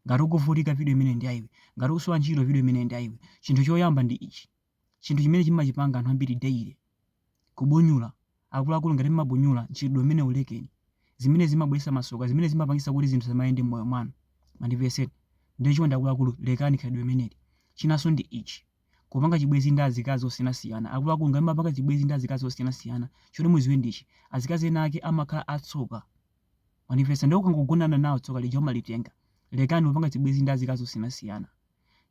Ngati ukuvutika, video imeneyi ndi ya iwe. Ngati ukusowa ntchito, video imeneyi ndi ya iwe. Chinthu choyamba ndi ichi, chinthu chimene chimachipangidwa ndi anthu ambiri daily, kubunyula. Akuluakulu ngati mmabunyula, mchitidwe umenewu lekeni. Zimenezi zimabweretsa masoka, zimenezi zimapangitsa kuti zinthu zisamayende mmoyo mwanu. Mwandimvetsa? Nde chonde akuluakulu lekani khalidwe limeneli. Chinanso ndi ichi, kupanga chibwenzi ndi azikazi osiyanasiyana. Akuluakulu ngati mmapanga chibwenzi ndi azikazi osiyanasiyana, choti mudziwe ndi ichi, azikazi ena ake amakhala atsoka. Mwandimvetsa nde ukangogonana nawo tsoka lija umalitenga? Lekani kupanga chibwezi ndi azikazi osiyanasiyana.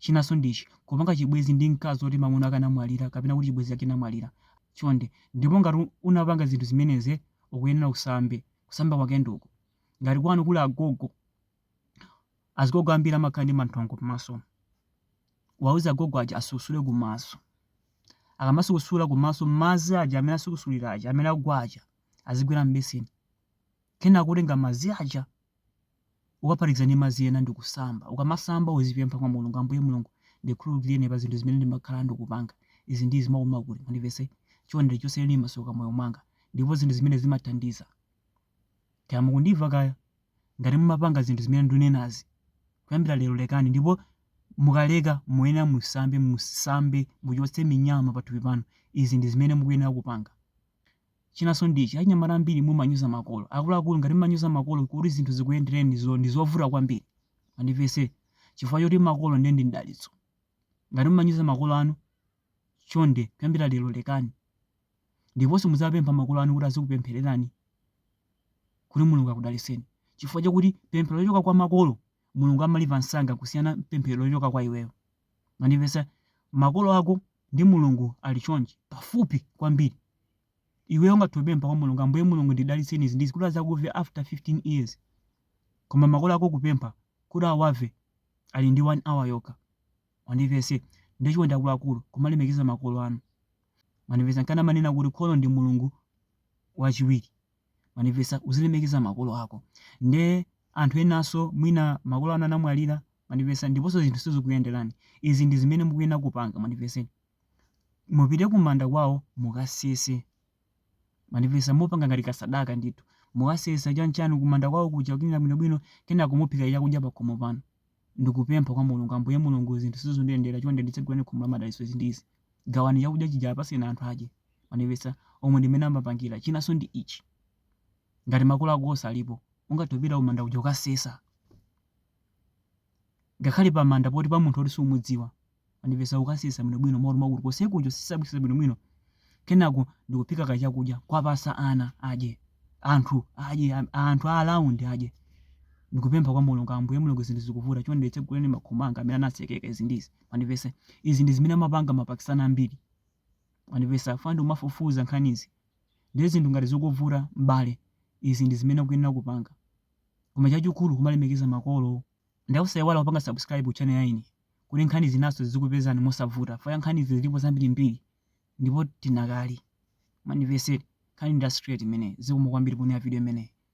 Chinaso ndi ichi, kupanga chibwezi ndi mkazi oti mamuna ake anamwalira kapena kuti chibwezi chake chinamwalira. Chonde. Ndipo ngati unapanga zinthu zimenezi ukuyenera usambe. Kusamba kwake ndi uku. Ngati kwanu kuli agogo. azigogo ambiri amakhala ndi manthongo pamaso wauze agogo aja asukusule kumaso akamasukusula kumaso madzi aja amene asukusulira aja amene agwa aja azigwera m'beseni kenako utenge madzi aja ukaphatikize ndi madzi ena ndi kusamba ukamasamba uzipempha kwa mulungu ambuye mulungu ndikhululukireni pa zinthu zimene ndimakhala ndikupanga izi ndi izi mwinamwake mundipatse chonde chotsani masoka m moyo mwanga ndipo zinthu zimene zimathandiza Kaya mukundimva kaya? Ngati mumapanga zinthu zimene ndunenazi, kuyambira lero lekani ndipo mukaleka muyenera musambe musambe muchotse minyama pathupi panu izi ndi zimene mukuyenera kupanga. Chinanso ndi ichi achinyamata ambiri mumanyoza makolo. Akuluakulu ngati mumanyoza makolo kuti zinthu zikuyendereni ndi zovuta kwambiri. Mwandimvetsa? Chifukwa choti makolo ndiye ndi mdalitso. Ngati mumanyoza makolo anu chonde kuyambira lero lekani. Ndiponso muziwapempha makolo anu kuti azikupemphererani kuti Mulungu akudalitseni, chifukwa chakuti pemphero lochoka kwa makolo, Mulungu amalimva msanga kusiyana pemphero lochoka kwa iweyo. Mwandimvetsa? Makolo ako ndi Mulungu ali chonchi, pafupi kwambiri. Iweyo ungathe kupempha kwa Mulungu, Ambuye Mulungu ndidalitseni izi ndi izi kuti adzakumve after 15 years. Koma makolo ako kupempha kuti awamve ali ndi 1 hour yokha. Mwandimvetsa, ndiye chonde akuluakulu, kumalemekeza makolo anu. Mwandimvetsa, nkana amanena kuti kholo ndi Mulungu wachiwiri. Mwandimvetsa, uzilemekeza makolo ako. Ndiye anthu enanso mwina makolo anu anamwalira, mwandimvetsa, ndiponso zinthu sizikuyenderani. Izi ndi zimene mukuyenera kupanga, mwandimvetseni. Mupite kumanda kwawo mukasese. Mwandimvetsa mupange ngati kasadaka ndithu. Mukasesa chanichani kumanda kwawo kuja kucleaner bwinobwino kenako nkuphika chakudya pakhomo panu. Ndikupempha kwa Mulungu Ambuye Mulungu zinthu sizundiyendera chonde nditsegulireni khomo la madalitso izi ndi izi. Gawani chakudya chija apatseni anthu adye. Mwandimvetsa? Umu ndi mmene amapangira. Chinanso ndi ichi. Ngati makolo ako onse alipo, ungathe kupita kumanda kuja kukasesa. Ngakhale pamanda poti pa munthu woti sumudziwa. Andipeza kukasesa bwinobwino moti mwakuti konsekunja kusesa bwinobwino kenako ndikuphika kachakudya kuwapatsa ana adye anthu adye anthu a around adye ndikupempha kwa mulungu ambuye mulungu zinthu zikuvuta chonde nditsegulireni makhomo anga amene anatsekeka izi ndizi mwandipeza izi ndi zimene amapanga mapakistani ambiri mwandipeza ife timafufuza nkhanizi ndiye zinthu ngati zikuvuta m'bale izi ndi zimene ukuyenera kupanga koma chachikulu kumalemekeza makolo Ndiye osaiwala kupanga subscribe ku channel yathuyi kuti nkhani zinanso zizikupezani mosavuta fire nkhanizi zilipo zambirimbiri ndipo tidakali maniveseli nkhani ndi ya straight imeneyi zikomo kwambiri poonera video imeneyi.